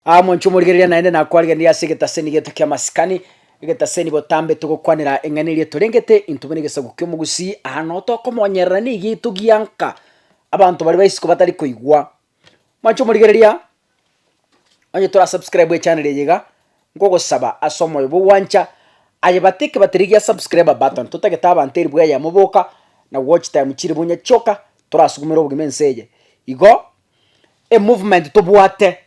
Aa monche omorigereria naende nakwarigereria ase egetaseni geto ki'amasikani, egetaseni botambe togokwanera eng'ana eria etorengete intwe buna egesaku ki'omogusii, aa noo tokomonyerera nigii togianka abanto baria ba isiko batari koigwa. Mwanche omorigereria, onye tora subscribe echaneri eye iga, ngogosaba ase omoyo bwo ogwancha, aye bateke batiri gia subscribe button totagete abanto eribwe eyemo boka, na watch time chire buna chioka, torasugumere obogima ense eye. Igo. Emovement tobwate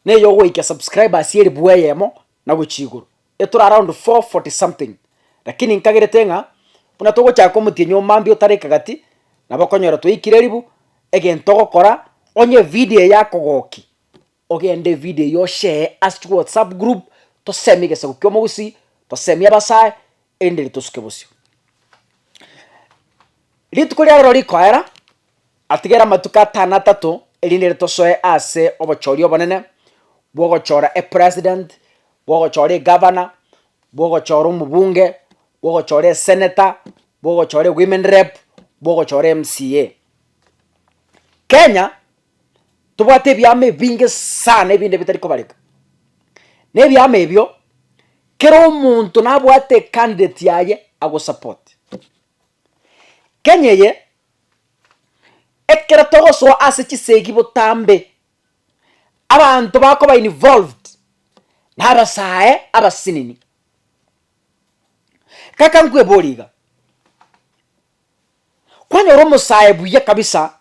neyo ogoika subscribers elfu eyemo na gochia igoro, etore around four forty something, lakini nkagerete ng'a buna togochaka omotienyi o mambia otareka gati, nabo okonyora twaikire elifu, egento ogokora, onye evideo eye akogokia, ogende evideo eye oshare ase chiwhatsapp group, tosemie egesaku kia omogusii, tosemie abasae, erinde ritusuke bosio. Rituko riarero rikoera. Atigere amatuko atano atato erinde ere tosoe ase obochori obonene bw'ogochora epresident, bw'ogochora egavana, bw'ogochora omobunge, bw'ogochora eseneta, bw'ogochora ewomen rep, bw'ogochora emcaa. Kenya tobwate ebiama ebinge sana ebinde bitari kobareka, na ebiama ebio kera omonto nabwate ecandidate yaye agosupport. Kenya eye. Ekero togosoa ase chisegi botambe, abanto bakoba involved na abasae abasinini. Kaka nkwebore iga, kwanyora omosae buya kabisa,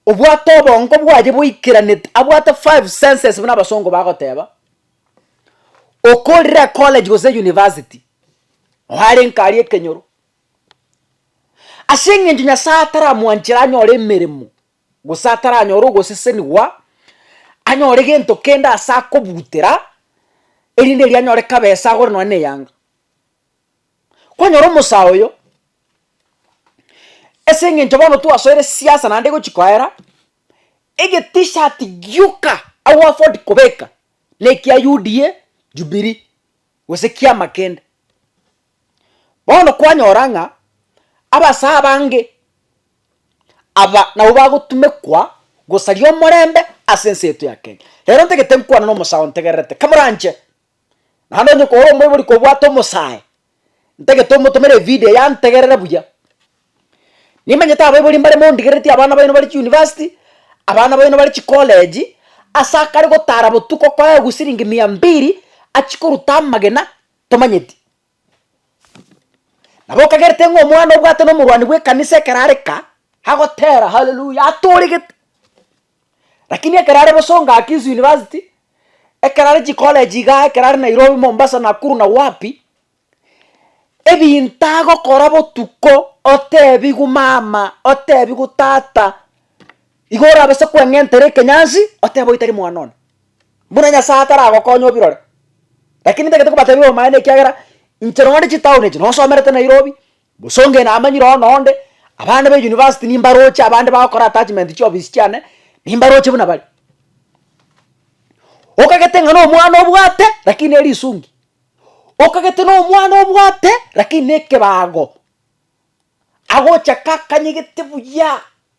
obwate obongo bwaye boikeranete, abwate five senses buna abasongo bagoteba, okorire college gose university, oare engari ekenyoro, Ase engencho Nyasae ataramwanchera anyore emeremo, gose ataranyore ogosesenigwa, anyore gento kende ase akobutera, erinde erio anyore kabesa agore nonya na eyanga. Kwanyora omosa oyo, ase engencho bono twasoire esiasa naende egochi koera, egetishati gioka agwo afodi kobeka, nekia UDA, Jubilee, gose kiama kende. Bono kwanyora ng'a abasee abange aba nabwo bagotumekwa gosaria omorembe ase ense yaito ya Kenya. Rero ntagete nkwane nomosae ontegererete kamoranche, naende onye kore omoibori kobwate omosae, ntagete omotomere evidio eye antegerere buya. Nimanyete abaibori mbare mondigerereti abana baino bare chiuniversity, abana baino bare chikoleji, ase akare gotara botuko koegwa siringi mia mbiri achikoruta amagena tomanyeti. Nabo okagerete ng'a omwana obwate na omorwani bw'ekanisa ekero are ka, agotera hallelujah atooregete. Rakini ekero are bosonga ake inse university, ekero are chicollege igaa, ekero are Nairobi, Mombasa, Nakuru na wapi, ebinto agokora botuko, otebigwe mama, otebigwe tata. Igo orabe se kweng'entera ekenyansi, otebe oyo tari mwana one, buna Nyasae ataragokonya obirore. Lakini ntagete kobatebia obomaene ekiagera inche nonde chitaoni echi nosomerete Nairobi, bosonge namanyire one onde, abana be university nimbaroche abande bagokora attachment chiofisi chiane, nimbaroche buna bare. Okagete ng'a nomwana obwate lakini ne risungi, okagete nomwana obwate lakini ne ekebago, agocha kakanyegete buya,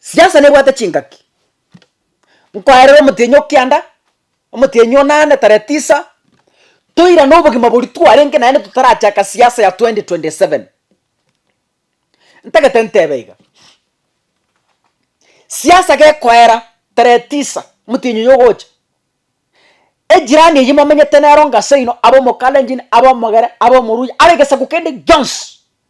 Siasa nebwate chingaki, nkoerera omotienyi o kianda, omotienyi o nane tarehe tisa, toirane obogima boria twarenge naende totarachaka siasa ya 2027. Ntagete ntebe iga, siasa gekoera tarehe tisa omotienyi oyo ogocha, ejirani eywo momenyete nero inga seino abe omokalenjin, abe omogere, abe omoluya, abe egesaku kende gionsi,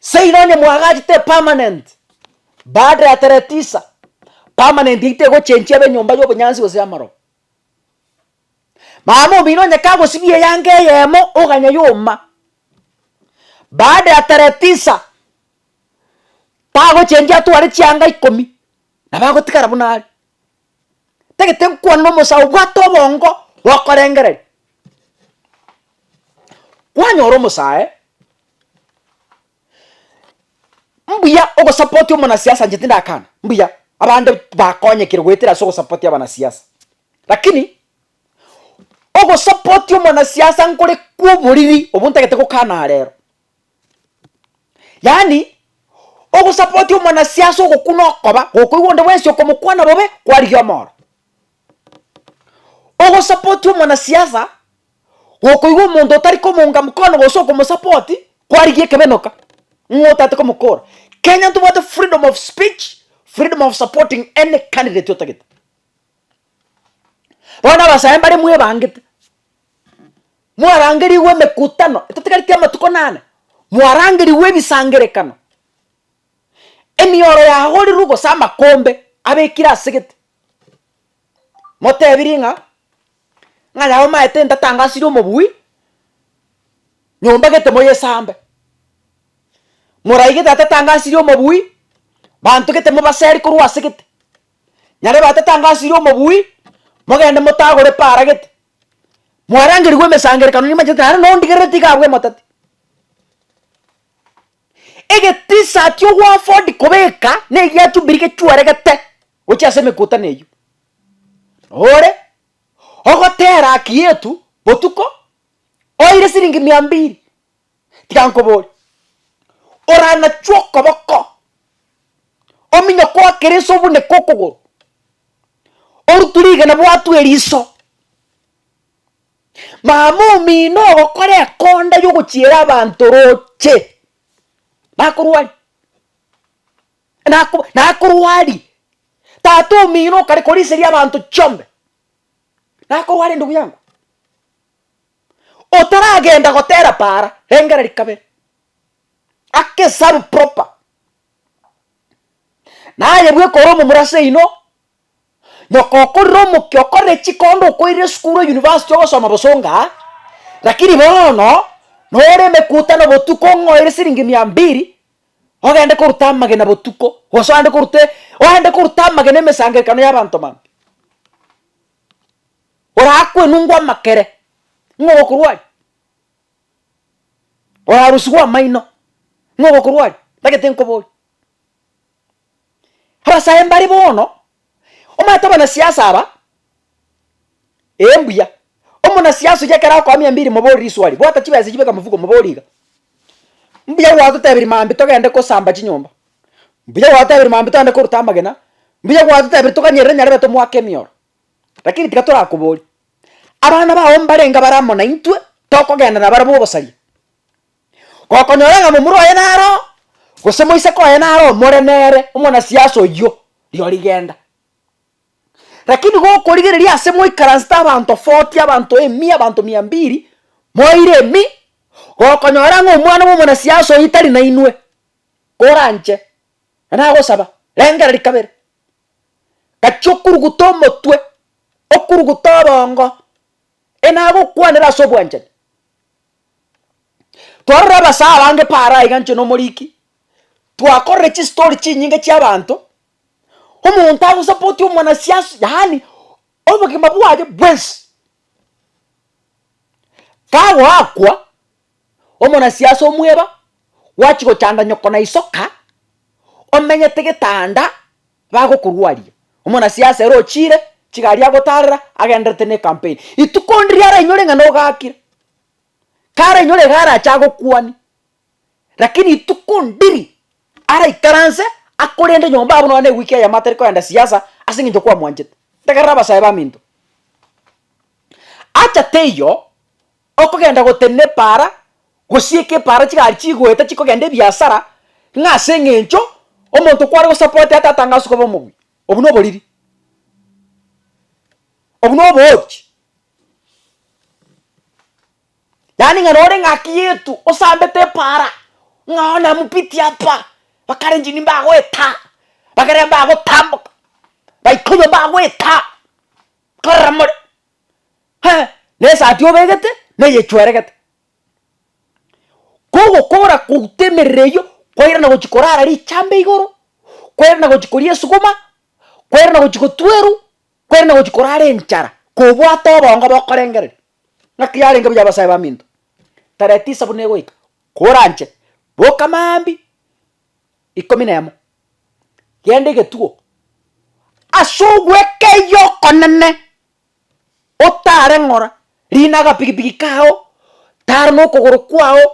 Seino onye mwagachete permanent baada ya tarehe tisa, permanent eyio tegochenchia abe enyomba y'obonyansi gose y'amaroba. Mama omino onye kagosibia eyanga eyemo oganye yoma, baada ya tarehe tisa tagochenchia atware chianga ikomi nabo agotigara buna are. Tagete nkwane omosa obwate obongo bokorengereria. Kwanyora omosae mbuya ogosapoti omonasiasa inche tindakana mbuya abande bakonyekire goetera ase ogosapoti abanasiasa lakini ogosapoti omonasiasa nkore kwa oboriri obwo ntagete gokana rero Yaani, ogosapoti omwanasiasa ogokuna okoba gokoigwa onde bwensi okomokwana bobe kwarigia omoro. Ogosapoti omwanasiasa gokoigwa omonto otari komounga mkono gose okomosapoti kwarigia ekebe noka, ng'a otate komokora. Kenya ntobwate freedom of speech, freedom of supporting any candidate otagete. Bono abasae mbare mwebangete. Mwarangerigwe emekutano etatigareti amatuko nane, mwarangerigwe ebisangerekano, emioro yagorirwe gose amakombe abekire ase gete, motebiri ng'a ng'a yao maete ntatangasiri omobui, nyomba gete moyesambe. Morai gete atatangasiri omobui, banto gete mobaseri korwa ase gete, nyare batatangasiri omobui, mogende motagore para gete, Mwarangerigwe emesangerekano nimachete naende nonye ondigerere tiga abwe emotati. Egetisa ki'ogoafford kobeka negia Jubilee gechueregete gochia ase emekutano eyio. Ore ogotera haki yetu botuko oire siringi mia mbiri. Tiga nkoborie, oranachwe okoboko, ominyo kwa kereso obuneke okogoro, orutwe rigena bwatwe eriso, mama omino ogokora ekonda yogochiera abanto roche, nakorwari nako nakorwari, tata omino okare koriseria abanto chiombe, nakorwari ndugu yangu. otaragenda gotera paara rengera rikabere ake esabu proper naye bwe koro omomura ase ino nyoko okorire omoke okorire chikondo okoirire esukuru university ogosoma bosonga lakini bono nore emekutano botuko ong'oire siringi mia mbiri ogende koruta amagena botuko gose ogende korute ogende koruta amagena emesangererekano y'abanto mambia. Orakwenungwa amakere ng'a ogokuru aria, orarusigwa amaino ng'a ogokuru aria, tagete nkoborie. Abasae mbare bono, omanyete abanasiasa aba, eeh mbuya, omonasiasa oyio ekero akoa mia mbiri moborie risuari, bwata chibesa echio beka mofuko moborie iga, mbuya gwatotebirie mambia togende kosamba chinyomba, mbuya gwatotebirie mambia togende koruta amagena, mbuya gwatotebirie toganyerere Nyarebe tomoake emioro. Rakini tiga torakobori, abana bao mbarenge abare amo naintwe, tokogenda nabarabwo obosaria. Gokonyora ng'a momura oye naroo, gose moiseke oye naroo, more nere, omonasiasa oyio, rirorio genda. Rakini gokorigereria ase moikaransete abanto forty, abanto emia, abanto mia mbiri, moire emi, gokonyora ng'a omwana bwa omonasiasa oyio tari nainwe, koranche, nagosaba, rengereria kabere. Gachia okuruguta omotwe, okuruguta obongo, enagokwanera ase obwanchani. Twarora abasae abange paaro aiga inche na omoriki, twakorire chistori chinyinge chia abanto, omonto agosapotia omwanasiasa yaani obogima bwaye bwensi, kagoakwa. Omonasiasi omweba gwachi gochanda nyoko na isoka, omenyete getanda bagokorwaria. Omonasiasi ere ochiire chigari agotarera agendererete ne campaign. Rituko ndiria arainyore ng'a nogakire, karainyore iga arache agokwanie, lakini rituko ndiri araikaranse akorende nyomba abwo nonye na ewiki eyemo atari kogenda siasa ase eng'encho kwamwanchete. Tegerera abasae baminto. Acha teiyo. Okogenda gotenena epaara, gosieka epaara chigari chigoeta chikogenda ebiasara, ng'a ase eng'encho omonto kware gosapoti atatangaswe koba omobui. Obwo noboriri. Obwo noboochi. Yaani ng'a nore engaki yetu osambete epaara, ng'a onye namopiti apa, bakarenchini mbagoeta, bakare mbagotamboka, baikonywa mbagoeta, korera more. Hee, nesati obegete, neyechweregete. Kogokora kouta emerero eyio kwairana gochi korara richambe igoro, kwairana gochi koria esuguma, kwairana gochi gotwa eru, kwairana gochi korara enchara, kobwate obongo bokorengereria. Ng'aki yarenge buya abasae baminto, tareti isabu negoika, koranche, boka maambia ikomi na emo, genda egetugo, as'ogweka eyiokonene. otare ng'ora, rina agapigipigi kao, tara nokogoro kwao,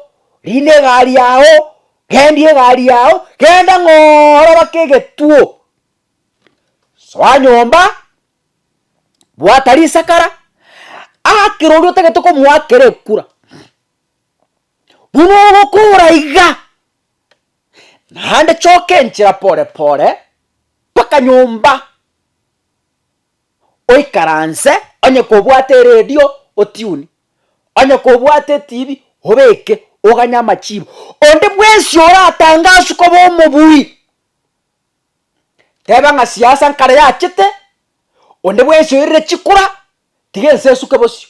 rina egari yao, gendia egari yao, genda ng'oora baka egetuo, soa nyomba, bwata risakara, akera oria otagete komoakera ekura, buna ogokora iga, naende choka enchera pore pore mpaka nyomba. oikaranse, onye kobwate eredio otiuni, onye kobwate etibi obeke oganye amachibo. Onde bwensi oratange ase koba omobui, teba ng'a siasa nkare yachete, onde bwensi oirire chikura, tiga ense esuke bosio.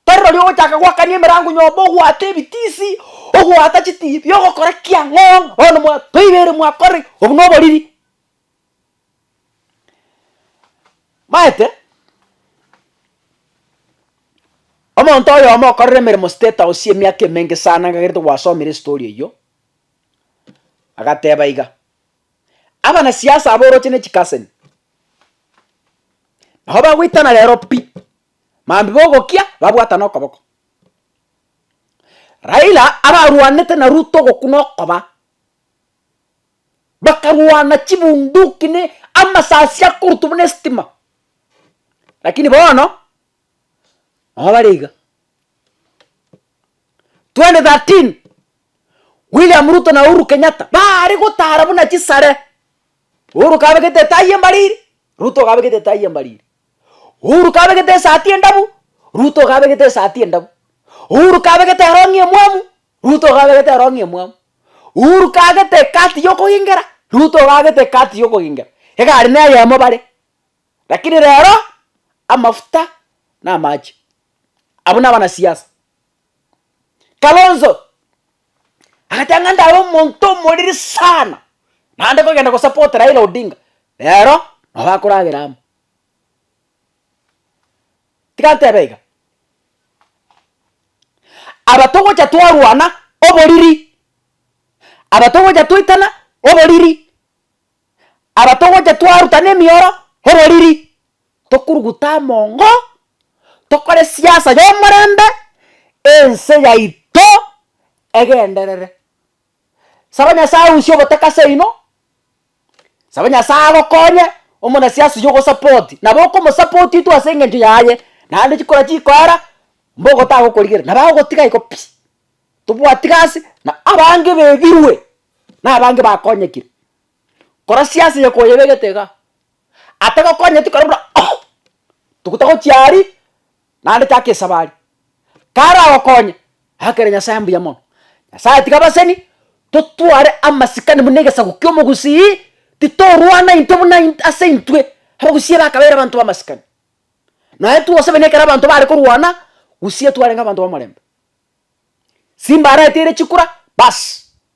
Tari rorio ogochaka goakania emerango nyomba obwate ebitisi, obwate chitibi, ogokora ki ang'oo, bono mwa toibeire mwakorire, obwo noboriri. Maete, omonto oyomo okorire emeremo State House emiaka emenge sana nkagerete gwasomire estory eyio, agateba iga, abanasiasa aba oroche ne chikaseni, nabo bagoitana rero pi, mambi bogokia babwatane okoboko. Raila ararwanete na Ruto ogokuna okoba, bakarwana chibunduki ne amasasi akorutwa buna esitima, lakini bono nabo bare iga. Twenty thirteen, William Ruto na Uhuru Kenyatta baare gotara buna chisare, Uhuru kabegete etai embariri, Ruto kabegete etai embariri, Uhuru kabegete esati endabu, Ruto kabegete esati endabu, Uhuru kabegete erong'i emwamu, Ruto iga abegete ororo ng'a emwamu. Uhuru kagete ekati yokogengera, Ruto iga agete ekati yokogengera. Egari neyemo bare, rakini rero, amafuta na amache. Abwo na abanasiasa. Kalonzo, agateba ng'a ndabe omonto omoriri sana, naende kogenda go support Raila Odinga, rero, nabo akorabera amo. Tiga ntebe iga. Aba togocha twarwana oboriri, aba togocha twaitana oboriri, aba togocha twarutana emioro oboriri, tokoruguta amongo, tokore siasa y'omorembe, ense yaito egenderere. Saba Nyasae ausie obotaka aseino, saba Nyasae agokonye, omonasie asuye ogosupport, nabo okomosupport tu ase eng'encho yaye, naende chikura chikoera, mbogotaka gokorigereria, nabo agogotiga aye iko pi, tobwati gasi, na abange bebirwe, na abange bakonyekire. Kora siasa eye koyebegete igaa, atagokonyeti kora buna togotagwa chiaria. naende takesaba aria, karagokonya, agakera Nyasaye mbuya mono. Nyasaye tiga abaseni, totware amasikani buna egesaku ki'omogusii, titorwana intwe buna intwe ase intwe, abagusii bakabeire abanto b'amasikani. Naye twosabeni ekero abanto bare korwana, gusii etwarenge abanto b'omorembe. Simba arateire chikura, bas.